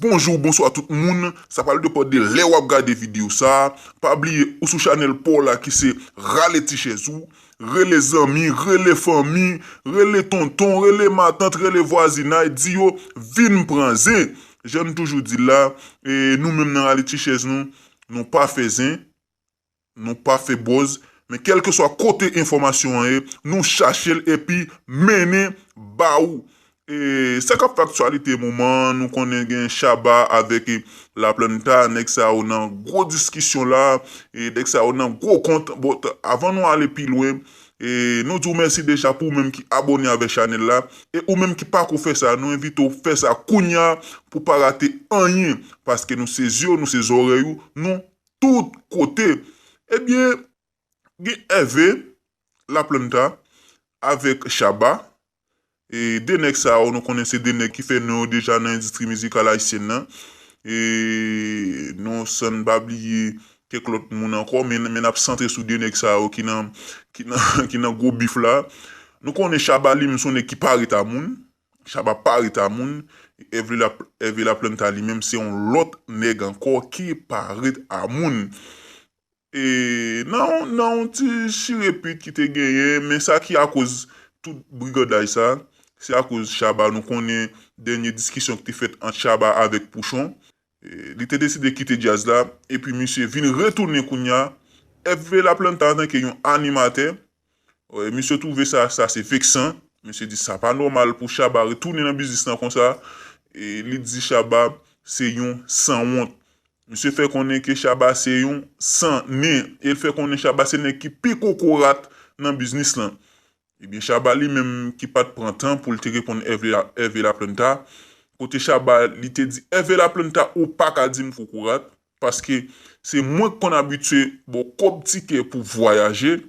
Bonjour bonsoir tout moun, sa pral depan de lè wap gade video sa, pa bliye ou sou chanel paw la ki se rale ti chèz ou, rele zanmi, rele fanmi, rele tonton, rele matant, rele vwazinay di yo vin pran zen, jann toujou dil la, nou menm nan rale ti chèz nou, nou pa fè zen. Nou pa fè bòz, men kèlkeswa kote enfòmasyon an ye, nou chache l epi mennen ba ou. E sa k ap fè aktyalite moman an, nou konnen gen Shabba avèk Laplanta, nèg sa yo nan gwo diskisyon la, nèg sa yo nan gwo kont. Bon, avan nou ale pi lwen, nou di w mèsi deja pou ou menm ki abòne avè chanèl la. E ou menm ki pako fè sa, nou envite w fè sa kounya pou w pa rate anyen, paske nou se zye w, nou se zòrèy ou, nou tout kote ebyen gen ève laplanta avèk chaba e de nèg sa yo nou konnen se de nèg ki fè non yo deja nan endistri mizikal ayisyèn nan e nou sann pa bliye kèk lòt moun ankò men men nap santre sou de nèg sa yo ki nan ki nan gwo bif la nou konnen chaba li menm son nèg ki pa ret a moun Shabba pa reta moun, Herve la planta li menm se yon lòt nèg ankò ki pa ret a moun. E nan yon ti chire pit ki te genyen men sa ki akoz tout brigandaj sa se akoz Shabba nou konnen dènye diskisyon ki te fèt ant Shabba avèk Pouchon Li te deside kite djaz la epi misye vin retounen kounya FB La Planta antanke yon animatè. Misye twouve sa sa se veksan. Misye di sa pa nòmal pou Shabba retounen nan biznis lan konsa. Li di Shabba se yon sanwont. Misye fè konnen ke Shabba se yon san nen e l fè konnen Shabba se nèg ki pi kokorat nan biznis lan. Ebyen Shabba li menm ki pat pran tan poul te reponn Hervé Laplanta, kote Shabba li te di Hervé Laplanta ou paka dim kokorat paske se mwen ki konn abitye baw kòb tikè pou vwayaje,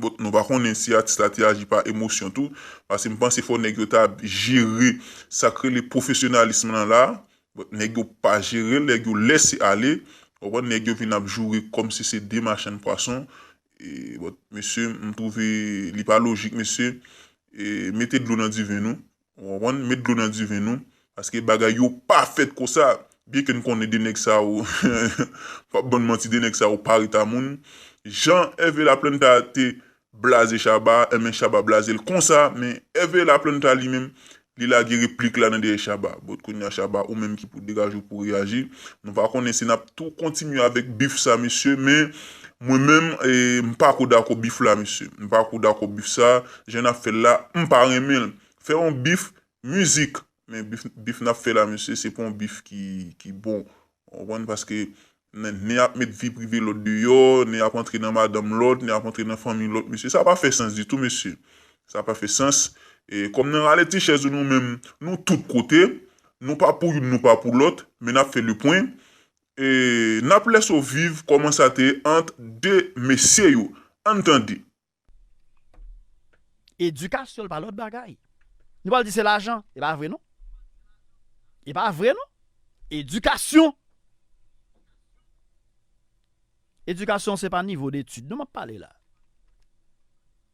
bon nou pa konnen si atis la te aji pa emosyon tou, paske m panse fò nèg yo ta jere sak rele pwofesyonalism lan la, bon nèg yo pa jerel nèg yo lèse ale, ou konprann nèg yo vin ap joure kòmsi se 2 machann pwason. But mesye m trouve li pa lojik mesye mete dlo nan diven nou ou konprann met dlo nan diven nou paske bagay yo pa fèt konsa byen ke n konnen 2 nèg sa yo m pap bann manti 2 nèg sa yo pa reta moun jan Herve Laplanta te blaze Shabba enben Shabba blaze l konsa men Herve Laplanta li menm Li lage replik la nan dèyè Shabba. But kounya Shabba ou menm ki pou degaje w pou reyaji. Nou pa konnen si nap tou kontinye avèk beef sa mesye men mwen menm m pako dakò beef la mesye. M pako dakò beef sa jan nap fè l la m pa renmen l. Fè yon beef mizik men beef nap fè la mesye se pa yon beef ki bon ou konprann paske Nèg ap met vi prive lòt deyò, nèg ap antre nan madanm lòt, nèg ap antre nan fanmi lòt mesye. Sa pa fè sans ditou mesye. Sa pa fè sans. Kòm nan rale ti chèz nou menm, nou tout kote. Nou pa pou youn, nou pa pou lòt. Men n ap fè lepwen. N ap lèse w viv kòman sa te ye ant de mesye yo. Ann tande. Edikasyon pa lòt bagay. Nou pa l di se lajan. E pa vre non. E pa vre non. Edikasyon. Edikasyon se pa nivo de etid non m ap pale la.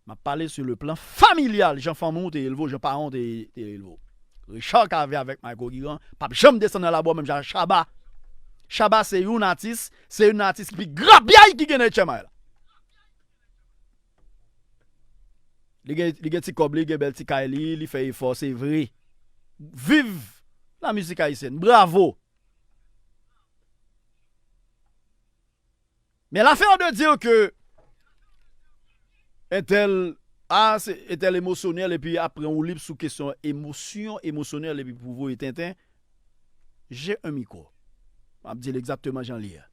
M ap pale sou le plan familyal. Jan fanmi ou te elve ou, jan paran ou te elve ou. Richard Cavé avèk Mayko Giran pa p janm desann nan labo menm jan ak Shabba. Shabba se youn atis, se youn nan atis ki pi grapyay ki gen nan 8 èm ane la. Li gen li gen ti kòb li gen bèl ti kay li li fè efò se vre viv la mizik ayisyèn bravo men lafè de dir ke entèl a se entèl emosyonèl epi ap pran woulib sou kesyon emosyon emosyonèl epi pou voye tenten je un mikwo map dil egzakteman jan li ye.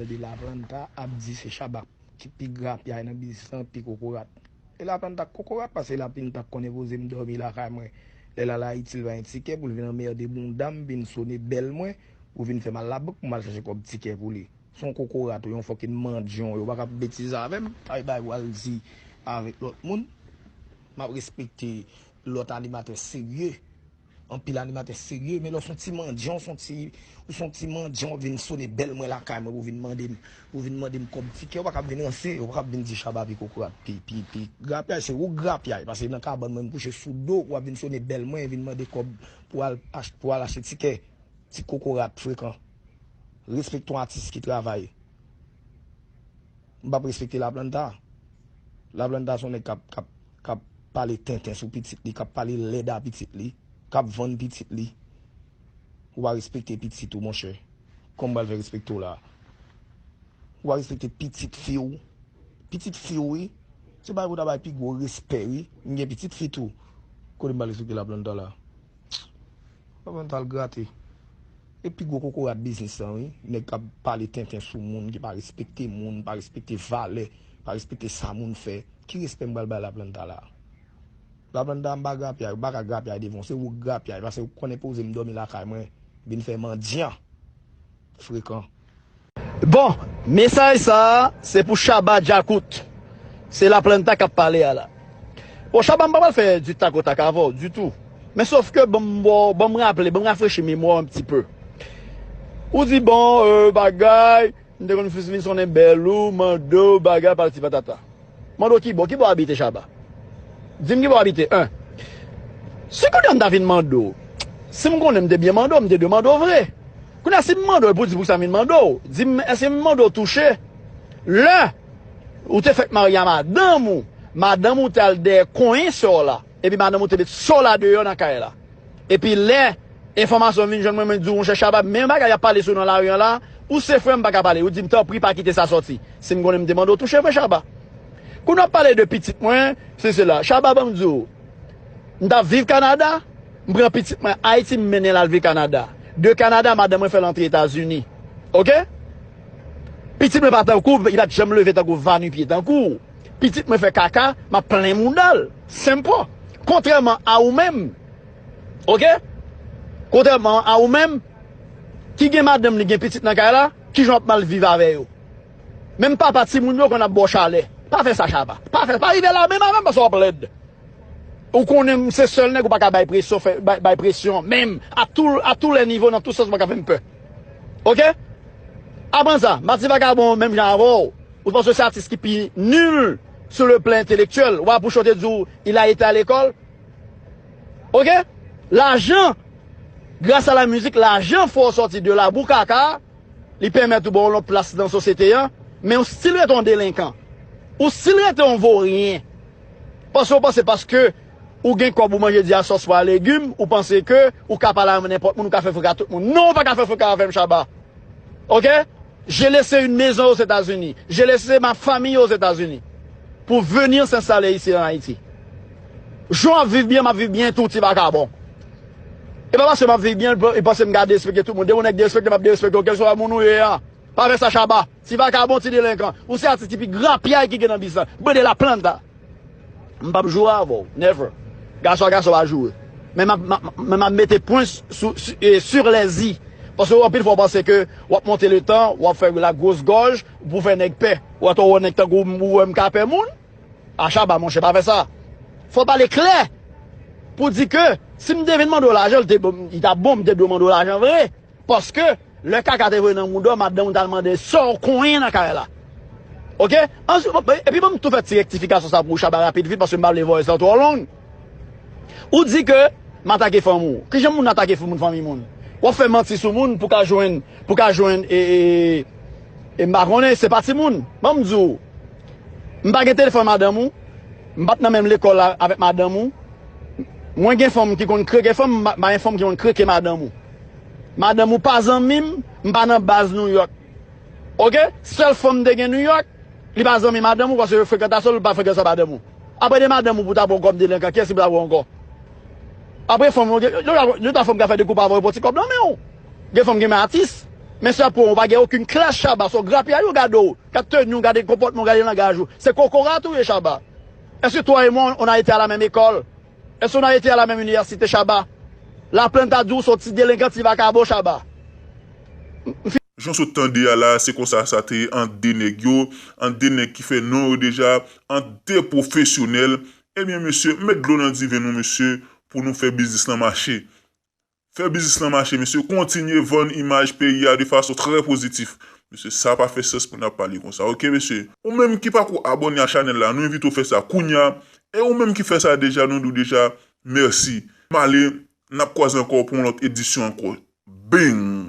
De la planta ap di se shabba ki pi grapyay nan biznis lan pi kokorat de la planta k kokorat pase la pinta k konnen poze m domi lakay mwen lè l al ayiti l pa gen tikè pou l vin anmerde bounda m vin sone bèl mwen pou vin fè m al labank pou m al chache kòb tikè pou li se yon kokorat ou yon fòkin mandyon yo paka ap betize avè m bay bagay w al di avèk lòt moun m ap respekte lòt animatè serye. Anpil animatè serye men lè w son ti mandyan w son ti ou son ti mandyan wap vin sone bèl mwen lakay mwen pou vin mande m pou vin mande m kòb tikè ou pa kab vin ranse ou pa kab vin di shabba pi kokorat pi pi pi grapyay se ou k grapyay pase nan kabann mwen m kouche sou do ou wap vin sone bèl mwen vin mande kòb pou al ach pou al achte tikè ti kokorat frekan respekte yon atis ki travay. M pap respekte Laplanta. Laplanta son nèg kap kap kap pale tenten sou pitit li, kap pale lèd a pitit li, kap vann pitit li. Ou pa respekte pitit ou monchè. Kòman m pral fè respekte w la a? Ou pa respekte pitit fi w. Pitit fi w wi. Se bagay pou w ta bay pi gwo respè wi. M gen pitit fi tou. Kote m pral respekte Laplanta la a? Laplanta al grate. E pi gwo kokorat biznis lan wi, nèg kap pale tenten sou moun, ki pa respekte moun, pa respekte valè, pa respekte sa moun fè, ki respè m pral bay la planta la? La planta m pa grapyay, ou pa ka grapyay devan, se ou k grapyay, pase ou konnen poze m dòmi lakay mwen, vin fè mandyan, frekan. Bon mesaj sa a se pou Shabba Djakout se La Planta kap pale a la bon Shabba m pa pral fè du tac au tac avè w ditou men sof ke banm ba w banm raple banm rafrechi memwa w un pti peu ou di bon bagay m te konn fis li sonnen bèlou mande w bagay patati patata. Mande w kibò, kibò w abite Shaba? Di m kibò w abite 1. Si kounye a m ta vin mande w, si m konnen m te byen mande w, m te dwe mande w vre. Kounye a si m mande w epi w di poukisa m vin mande w, di m èske m mande w touche lè ou te fèk marye a madanm ou, madanm ou te al dèyè konyen sè w la? Epi madanm ou te met so la deyò nan kay la. Epi lè enfòmasyon vin jwenn mwen mwen di w monchè Shabba menm bagay y ap pale sou w nan lari an la ou se frè m pa ka pale ou di m tanpri pa kite sa sòti si m konnen m te mande w touche vre Shabba Kou nou ap pale de pitit mwen si sela Shabba ban m di w m t ap viv Kanada m pran pitit mwen Ayiti m mennen l al viv Kanada de Kanada madanm mwen fè l antre Etazini ok pitit mwen pa tankou li pa t janm leve tankou va nu pye tankou w. pitit mwen fè kaka map plen moudal simple kontrèman a ou menm ok kontrèman a ou menm ki gen madanm li gen pitit nan kay la kijan wap mal viv avè yo menm papa timoun yo konn ap baw chalè pa fè sa chaba pa fè pa rive la menm avèm paske wap lèd ou konnen m se sèl nèg ou paka bay presyon fè bay presyon menm a tou a tou lè nivo nan tou sans ou paka fèm pè ok aprann sa m pa ti vakabon menm jan avèw. Ou t panse se atis ki pi nul sou le plan intellectuel wa bouche ou te di w il a été à l'école ok lajan gras a la mizik lajan fè w sòti de labou kaka a li pèmèt ou ba w yon lòt plas nan sosyete an men ou stil rete yon delenkan ou stil rete yon voryen paske w panse paske Ou gen kòb ou manje di a sòs pwa legim ou panse ke ou ka pale avm nenpòt moun ou ka fè frenk a tout moun non ou paka fè frenk avm Shabba ok Jele se yn mezon ozetazini Jele se ma famiy ozetazini pou venir s'installer ici en Haïti Jan wap viv byen map viv byen tou ti vakabon e pa paske map viv byen ou panse m ka derespekte tout moun depi yon nèg derespektem map derespekte w kèlswa moun ou ye a pa fè sa Shabba. Ti vakabon ti delenkan. Ou se atis ki pi grapyay ki gen nan bis la. Buen de la planta. M pap joure avè w. Never. Gason a gason pa joure. Men m ap mete pwen sur les i. Paske anpil fwa w panse ke w ap monte le tan, w ap fè la gros gòj pou w fè nèg pè. Ou ato wè nèg tankou m ou wè m ka pè moun? A Shabba monchè pa fè sa. Fò w pale klè pou w di ke si m te vin mande w lajan li ta bon m te dwe mande w lajan vre. Paske lè kaka te voye nan mouda w madanm ou ta mande sa w konyen nan kay la ok answit epi banm tou fè ti rektifikasyon sa pou Shabba rapid vit paske m pa vle voice lan twò long ou di ke m atake fanm ou kijan moun atake fanm fanmiy moun wap fè manti sou moun pou ka jwenn pou ka jwenn ee m pa konnen se pa timoun banm di w m pa gen telefòn madanm ou m pat nan menm lekòl avèk madanm ou mwen gen fanm ki konn kreke fanm m pa gen fanm ki konn kreke madanm ou. Madanm ou pa zanmim m pa nan baz new york ok sèl fanm m te gen new york li pa zanmi madanm ou paske frekantasyon li pa frekantasyon madanm ou aprè de madanm ou pou ta pran kòb delenkan kiyès ki pou ta pran ankò aprè fanm yo gen dwa fanm ka fè de koup avèw pou ti kòb nan menw gen fanm ki renmen atis men si yap pranw ou pa gen okenn klas chaba son grapyay yo gadew gad teniw gade konpòtmanw gade langaj ou se kokorat ou ye chaba èske twa e mwa on a ete a la menm ekòl Èske w nan ete a la menm inivèsite Shabba? La planta di w s on ti delenkan ti vakabon Shabba. M fin. Jan w sot tande a la se konsa sa te ye ant 2 nèg yo, ant 2 nèg ki fè non yo deja, ant 2 pwofesyonèl. Ebyen mesye met dlo nan diven nou mesye pou nou fè biznis lan mache. Fè biznis lan mache mesye kontinye vann imaj peyi a de fason trè pozitif mesye sa pa fè sans pou nap pale konsa ok mesye. Ou menm ki pako abòne a chanèl la nou envite w fè sa kounya e ou menm ki fè sa deja nou di w deja mèsi. Male nap kwaze ankò pou yon lòt edisyon ankò bing.